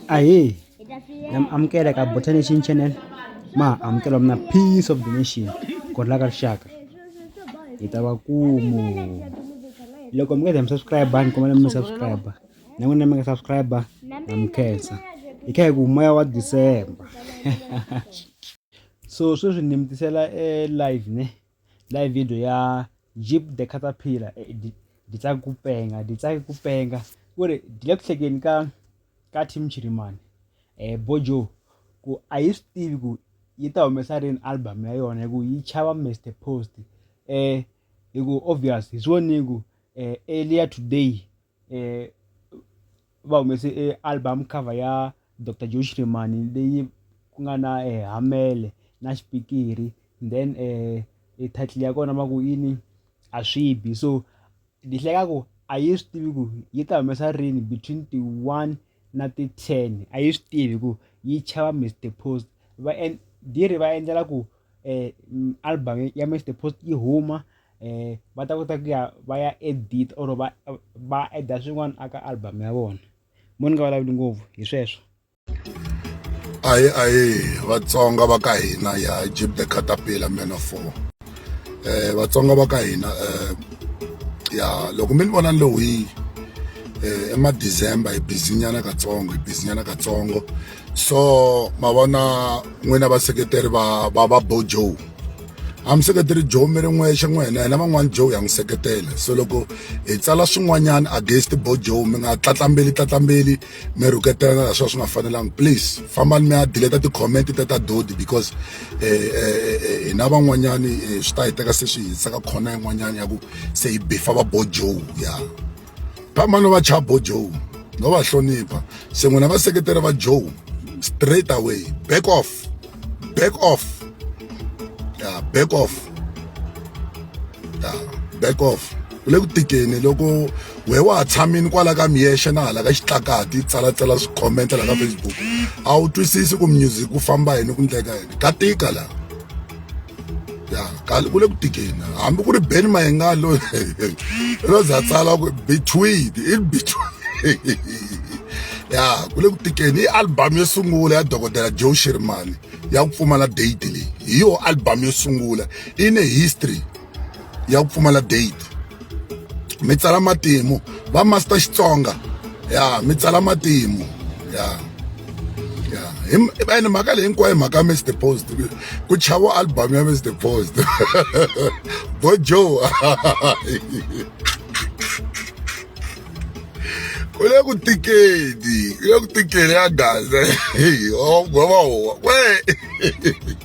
Ahee, na mi amukela ka Botanation Channel ma ha amukela mina Peace of the Nation godla ka rixaka hi ta va kumu loko mi nga za mi subscribe ni kombela mi subscribe na n'wina mi nga subscribe na mi khensa hi kha hi ku moya wa December so sweswi ni mi tisela e live ne. Live video ya Jeep the Caterpillar eh, di di tsaka ku penga di tsaka ku penga ku ri di le ku hlekeni ka ka team chirimani eh bojo ku a yi swi tivi ku yi ta humesa rini album ya yona hi ku yi chava mr post eh hi ku obvious hi swi voni ku eh earlier today eh, va humese e album cover ya Dr Josh Remani leyi ku nga na eh, hamele na xipikiri then eh, e title ya kona va ku yini a swi bi so ni hleka ku a yi swi tivi ku yi ta humesa rini between the one na ti ten a yi swi tivi ku yi chava mr post va and diri va endlela ku album ya match the post yi huma um va ta kota ku ya va ya edit or va va add-a swin'wana aka album ya vona mo ni nga vulavuli ngopfu hi sweswo ayi ayi vatsonga va ka hina ya jib the catapila man of four eh vatsonga va ka hina eh ya loko mi ni vona ni lowiyi um eh, emadecember hi bizinyana katsongo hi bizinyana katsongo so ma vona n'wina vaseketeri va va va bo joe a mi seketeri joe mi ri n'wexe n'wina hina van'wani joe ya n'wi seketela so loko hi tsala swin'wanyana against bo joe mi nga tlatlambeli tlatlambeli mi rhuketelana la swa swi nga fanelanga please fambani mi ya dileta ti-comment ta ta dodi because eh, eh, eh, hina van'wanyani swi ta hi teka se swi hi tsaka khona yin'wanyana ya ku se hi bifa va bo joe ya yeah. vamani va chabo joe no va hlonipha se n'wina vaseketeri va joe straight away back off back off ya back off ya back off ku le ku tikeni loko we wa ha tshamini kwala ka miyexe na hala ka xitlakati tsalatsala swikhomenta laha ka facebook a wu twisisi ku music ku famba yini ku ndleka yini ka tika laha ya kale ku le ku tikeni hambi ku ri ben mayenga loyi ro za tsala ku between in between ya ku le ku tikeni i album yo sungula ya dokodela joe shirimani ya ku pfumala date leyi hi yo album yo sungula i ne history ya ku pfumala date mi tsala matimu va master xitsonga ya mi tsala matimu ya ya ene mhaka leyi hinkwayo mhaka mr post ku chavo album ya mr post bo joe ku le ku tikeni ku le ku tikeni ya gaza hey oh, we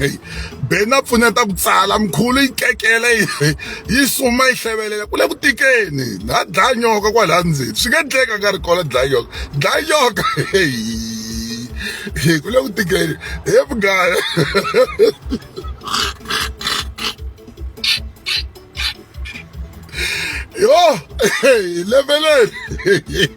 Hey, ben a pfuneta ku tsala mikhulu yi kekela yi suma yi hlevelela ku le ku tikeni ha dlaya nyoka kwalaya ndzeni swi nga endleka nga ri kona dlaya nyoka dlaya nyoka ku le ku tikeni he mugaya yo leveleni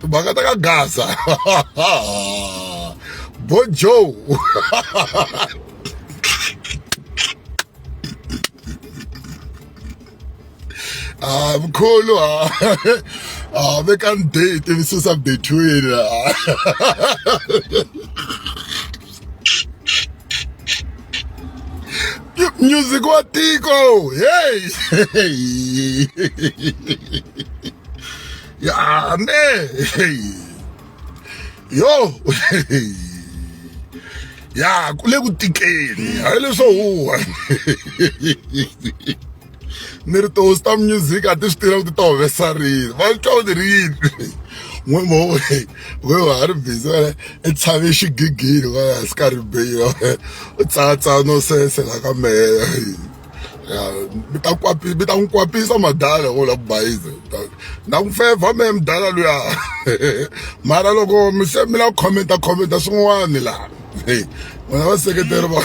timhaka ta ka gaza bojo ah mkhulu ah ah veka ndate tivisisa between ah. music wa tiko hey ya me yo ya ku le ku tikeni hayi leswo huwa ni ri tihosi ta music a ti swi tiva ku ti ta humesa rini va twa u ti ri yini n'we mo we wa ha ri busy wena i tshave xigigini va ya swi karhi beyi u tsatsa no sesela ka mehe ya mi ta kwapi mi ta n'wi kwapisa madala wo la ku bayiza na ku fevha me mdala luya mara loko mi se mi la ku khomenta khomenta swin'wani laha n'wina vaseketeri va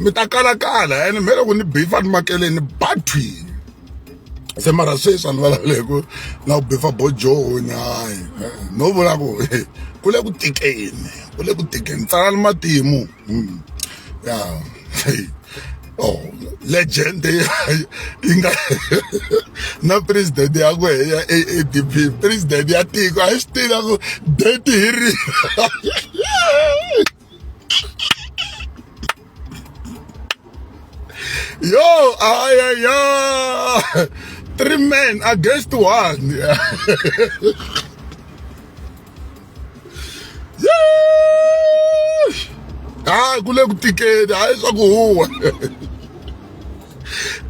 mi ta kalakala ene mi loko ni bifa ni makeleni ni ba thwini se mara sweswi a ni vulavule hi ku na ku bifa bojoni hayi no vula ku ku le ku tikeni ku le ku tikeni tsalani matimu Mm. Yeah. oh legend yi nga na president ya ku ya adp president ya tiko a yi swi tiva ku date hi ri yo ayaya three men against one hayi ku le ku tikeni hayi swa ku huwa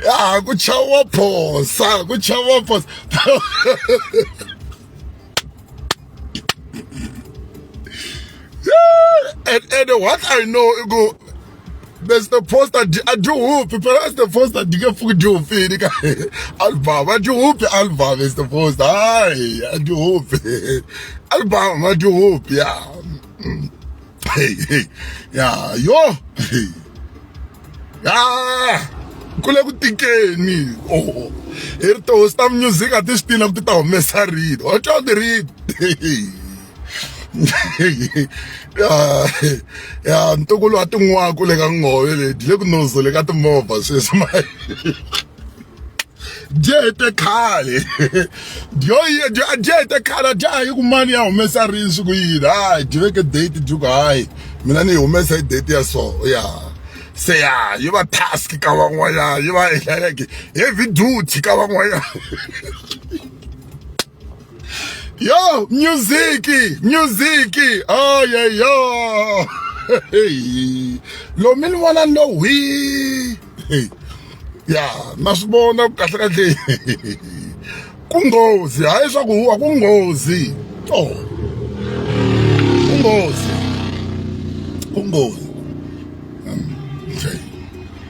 ya ku chava phosa ku chava phosa and, and what i know i ku bese the post a dyi a dyi hupi perhaps the post a dyi nge pfuki dyi hupini ka album a dyi hupi album is the post hayi a dyi hupi album a dyi hupi ya hey hey ya yo hey ya kule ku tikeni oh hi ri tihosi ta music a ti swi tina ku ti ta humesa rito wa twa ti rito ya ntukulu wa tin'waku le ka ngove leti le ku nozo le ka timovha sweswi ma dyete khale dyo dyete khale a dya hayi ku mani ya humesa rini swi ku yini hayi dyi veke date dyi ku hayi mina ni yi humesa hi date ya so ya se ya yi va task ka van'wanyana yi va like heavy duty ka van'wanyana Yo, music, music. Oh yeah, yo. Hey. Lo mi ni vona ni lo hwi. Hey. Ya, na swi vona ku kahle kahle. Ku nghozi, hayi swa ku huwa ku nghozi. Oh. Ku nghozi. Ku nghozi.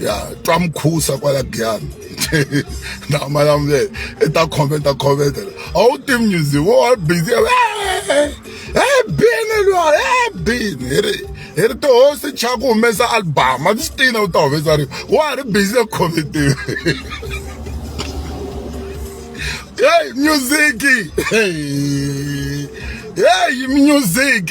ya twa mukhusa kwala giyani na malamulele i ta khomenta khomenta a wu tivi music wo wa busy e bini lwa e bini hi ri hi ri tihosi cha ku humesa album a swi tina u ta humesa ri wa ha ri busy eku khomentiwe hey music hey music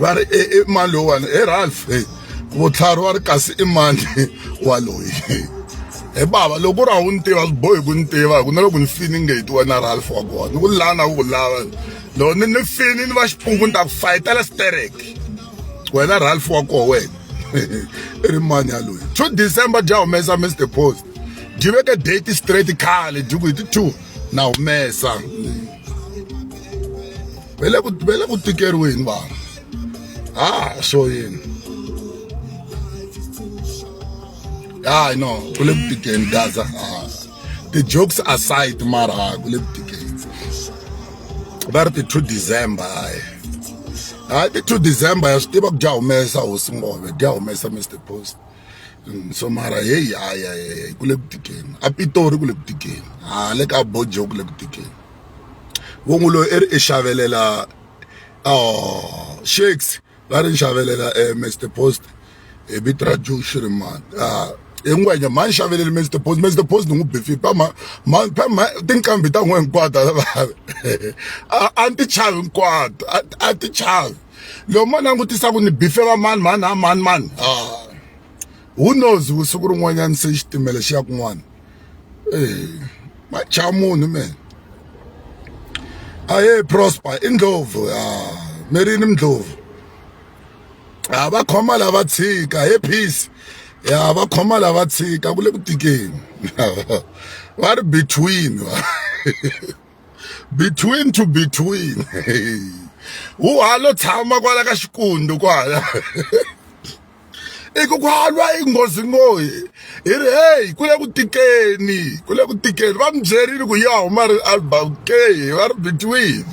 va ri e, e mani lowuwani e ralph e vutlhari wa ri kasi i mani waloyi he bava loko ku ri a wu ni tiva swi bohi ku ni tiva hi ku na loko ni fini nge hi ti wena ralph wa kona ni ku lana wu ku lava loko ni ni fini ni va xiphungu ni ta ku fayitela stereke wena ralph wa koho wena i ri mani yaloyi two december bya humesa mr post byi veke date straight khale byi ku hi ti two na humesa va le ku va le ku tikeriweni vanhu ha swo yini hayi no ku le ku tikeni gaza ti-jokes aside mara ku le ku tikeni va ri ti-two december hayi hayi ti-two december ya swi tiva ku dya humesa hosi ngove dya humesa mr post so mara heyi haya heyi ku le ku tikeni a pitori ku le ku tikeni ha le ka bojo ku le ku tikeni vo n'wi loyi i ri i xavelela shakes va ri ni xavelela mr post hi vito ra joe shirimani hi ngwenya mhani xaveleli mr post mr post ni n'wi bifi pama mhani pama tinqambi ta n'we hinkwato a ni ti chavi hinkwato a ti chavi. loko ma langutisa ku ni bife va mani mani a mani mani ah, who knows vusiku rin'wanyana se xitimela xi ya kun'wana eh, macha munhu mena aye prosper i ndlovu ah, merini mndlovu ha ah, va khoma lava tshika he peace ya va khoma lava tshika ku le ku tikeni va ri between between to between wu halo tshama kwala ka xikundu kwala i ku ku halwa i nghozi ngoyi hi ri heyi ku le ku tikeni ku le ku tikeni va mi byerile ku ya huma ri album ke va ri between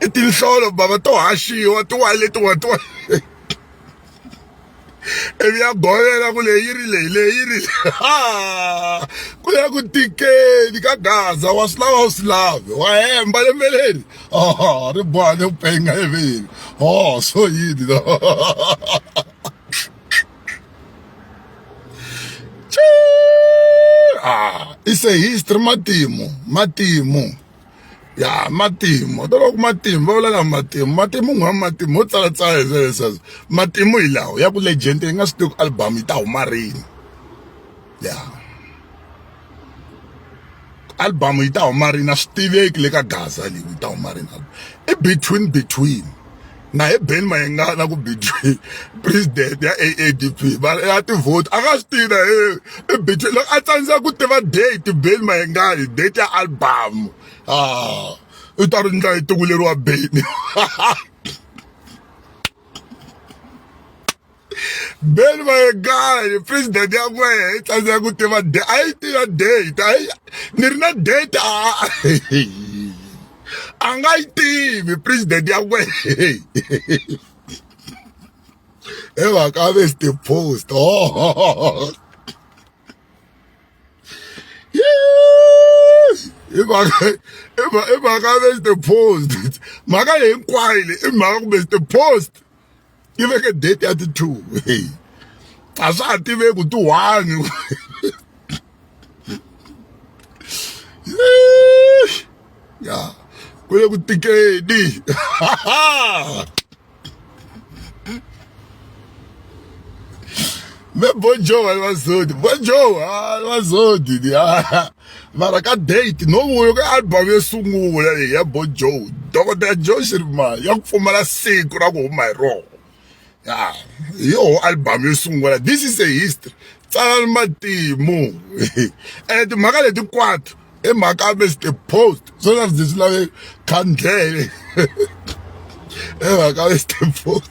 i tinhlolo bava to haxiwa tiwani letiwa tiwa ivi ya govela ku leyi ri leyi leyi ri ku ya ku tikeni ka gaza wa swi lava u swi lave wa hemba lembe leri o ri boha le ku penga eveni o so yini no it's a history matimu matimu ya matimu to loko matimu va vulaka matimu matimu n'wana matimu ho tsala tsala hi leswaku matimu hi lawo ya ku legend yi nga swi tivi ku album yi ta huma rini ya album yi ta huma rini a swi tiveki le ka gaza leyi yi ta huma rini i between between na hi Ben Mayengana ku between president ya AADP mara ya ti vote a nga swi tiva i between loko a tsandzeka ku tiva date Ben Mayengana date ya album ah u ta ri ndla hi tikuleriwa Ben beni vayekani president ya n'wehe yi tsandzeka ku tiva de a yi tiva date a yi ni ri na date a a nga yi tivi president ya n'wehe hi mhaka a vesti post oh. i mhaka i mhaka vesti post mhaka leyi hinkwayo leyi i mhaka kumbe sti post yi veke date ya ti-two hey a swa ha tiveki ku ti-one ya ku le ku tikeni me bonjour alivazodi bonjour alivazodi mara ka date no vuyo ka album yo sungula leyi ya bo joe dokodela joe xirimani ya ku pfumala siku ra ku huma hi rona ya hi yoho album yo sungula this is a history tsalani matimu ene timhaka leti kwatu i mhaka ya mr post swo swa ndzi swi lave khandlele i mhaka ya mr post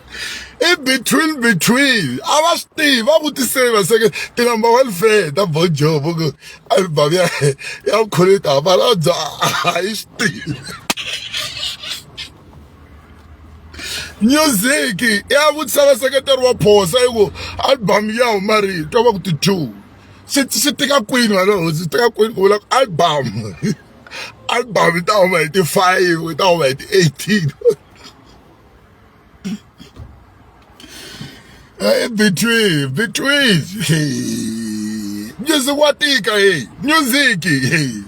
i between between a va swi tivi va vutisile va seke ti number one fan ta bojo vo ku album ya ya vukhorita hambana bya a yi swi tivi music ya vutisa va seketeri wa phosa yi ku album ya huma rihi twa va ku ti two swi swi tika kwini wena hosi tika kwini ku vula ku album album yi ta huma hi ti five yi ta huma hi ti eighteen Hey, between, between. Hey. Music wa tika hey. Music hey.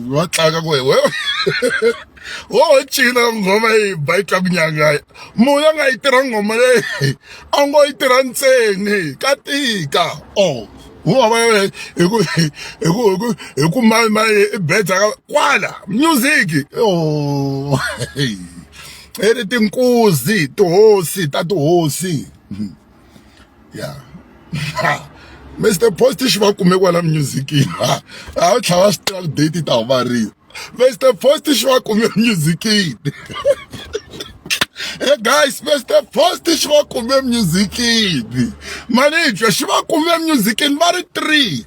Wa tlanga ku wewe. Wo china ngoma yi ba yi twa kunyanga. Munhu a nga yi tirha ngoma leyi. A ngo yi tirha ntseni ka tika. Oh. Wo va hi ku hi ku hi ku hi ku mali mali i beta kwala music. Oh. i ri tinkuzi tihosi ta tihosi ya Mr Post xi va kume kwala music-ini a wu tlhava swi tiva date ta huvariwa Mr Post xi va kume music-ini Hey guys, Mr. Post xi va kume music-ini. Manager xi va kume music-ini va ri three.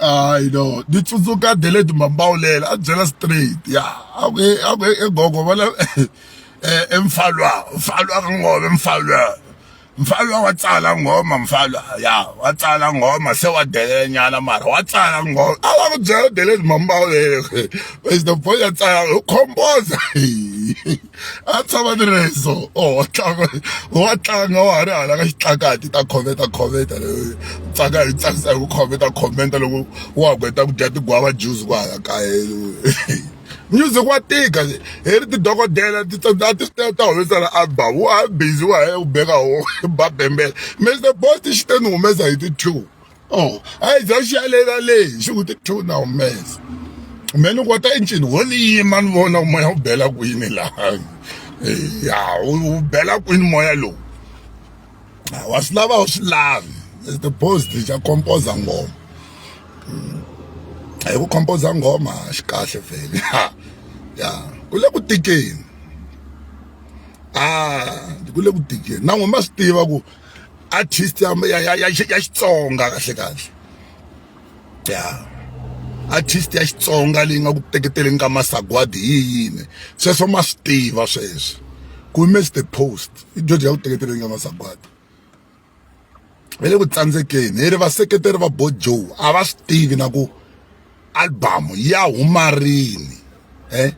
hayi no ni tsundzuka delete mambawulela a byela straight ya a ku a ku e gogo va la e mfalwa mfalwa ka ngome mfalwa mfalwa wa tsala ngoma mfalwa ya wa tsala ngoma se wa delele nyana mara wa tsala ngoma a va ku byela delete mambawulela where's the boy ya tsala u khomboza a tshama ni ri so o wa tlanga wa tlanga wa ha ri hala ka xitlakati ta khometa khometa tsaka hi tsakisa hi ku khometa khometa loko wa ku heta ku dya tigwava juzi ku hala kaya music wa tika hi ri tidokodela ti a ti ta ta humesa la album wa ha ri busy wa ha ya ku beka ho ba bembela Mister Boss xi te ni humesa hi ti two. oh hayi bya xiyalela leyi xi ku ti two na humesa me ni kota encini wo ni yima ni vona moya wu bela kwini laha ya wu bela kwini moya lowu wa swi lava wu swi lavi ti-post xa composer ngoma hi ku composer ngoma xi kahle vhele ya ku le ku tikeni a ku le ku tikeni na n'we ma swi tiva ku artist ya ya ya ya Xitsonga kahle kahle ya artist ya Xitsonga leyi nga ku teketeleni ka masagwadi hi yini sweswo ma swi tiva sweswo ku miss the post i dyondzo ya ku teketeleni ka masagwadi va le ku tsandzekeni hi ri vaseketeri va bo joe a va swi tivi na ku album ya huma rini eh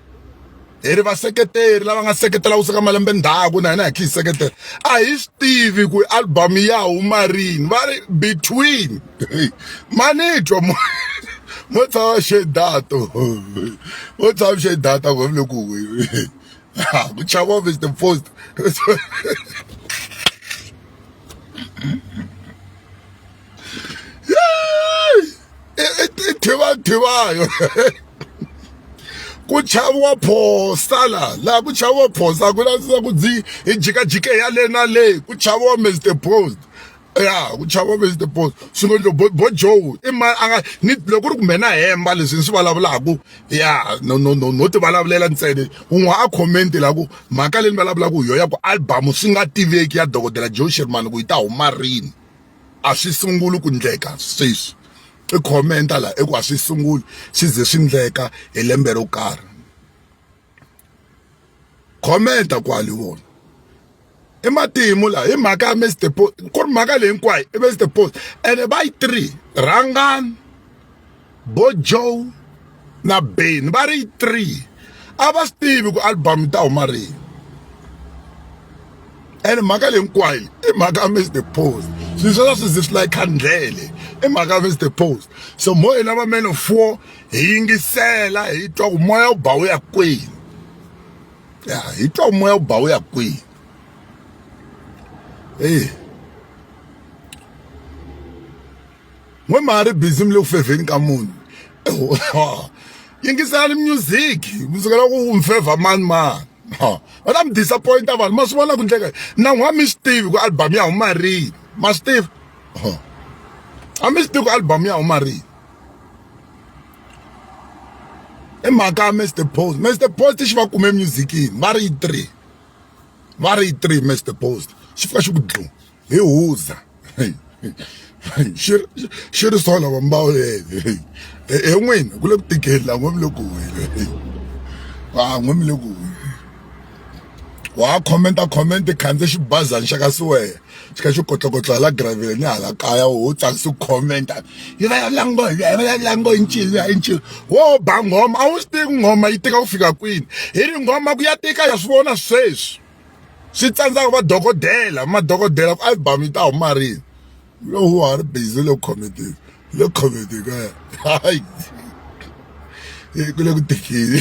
hi ri vaseketeri lava nga seketela kuseka malembe ndzhaku na hina hi kha hi seketela a hi swi tivi ku album ya huma rini va ri between manitwa mo mo tshava xedato mo tshava xedata ku vile ku ku chava is the post tivadhivayo ku chaviwa phosta la laha ku chaviwa phosta ku lavisisa ku dzi hi jikajike ya le na le ku chaviwa mr post ya ku chava vezi the boss swi ngo ndlo bo joe i ma a nga ni loko ri kumbe na hemba leswi ni swi vulavulaka ya no no no no ti vulavulela ntsena un'we a comment la ku mhaka leyi ni vulavulaka hi yona ya ku album swi nga tiveki ya dokodela joe sherman ku yi ta huma rini a swi sunguli ku ndleka sweswi i comment la i ku a swi sunguli swi ze swi ndleka hi lembe ro karhi comment kwali vona i matimu la hi mhaka ya Mr Post ku ri mhaka leyi hinkwayo i Mr Post ene va yi three rhangani bo joe na ben va ri three a va swi tivi ku album yi ta huma rini ene mhaka leyi hinkwayo i mhaka ya mr post swilo sweswo swi zi swi layi khandlele i mhaka ya mr post so mo hina va man of war hi yingisela hi twa ku moya wu ba wu ya kwini ya hi twa ku moya wu ba wu ya kwini eyi n'we ma ri busy mi le ku fevheni ka munhu yingiselani music mi sukela ku mi fevha mani mani va ta mi disappointa vanhu ma swi vona ku ndleka na n'wa mi swi tivi ku album ya huma rini ma swi tiva a mi swi tivi ku album ya huma rini i mhaka ya mr post mr post xi va kume musicini va ri yi three va ri yi three mr post xi fika xi ku dlu hi huza xi xi ri so lava mbawu yeye he n'wina ku le ku tikeni la n'we mi le ku huhile va n'we mi le ku huhile wa khomenta khomenta khandze xibazana xa ka siwehe xi kha xi kotlokotlo hala graveleni hala kaya wo tsakisa ku khomenta yi vulavula ngo hi yi vulavula ngo hi ncini ya i ncini wo ba nghoma a wu swi tivi nghoma yi tika ku fika kwini hi ri nghoma ku ya tika ya swi vona sweswi swi tsandzaka vadokodela madokodela ku album yi ta huma rini lowu wa ha ri busy le comedy le comedy ka hayi ku le ku tekeni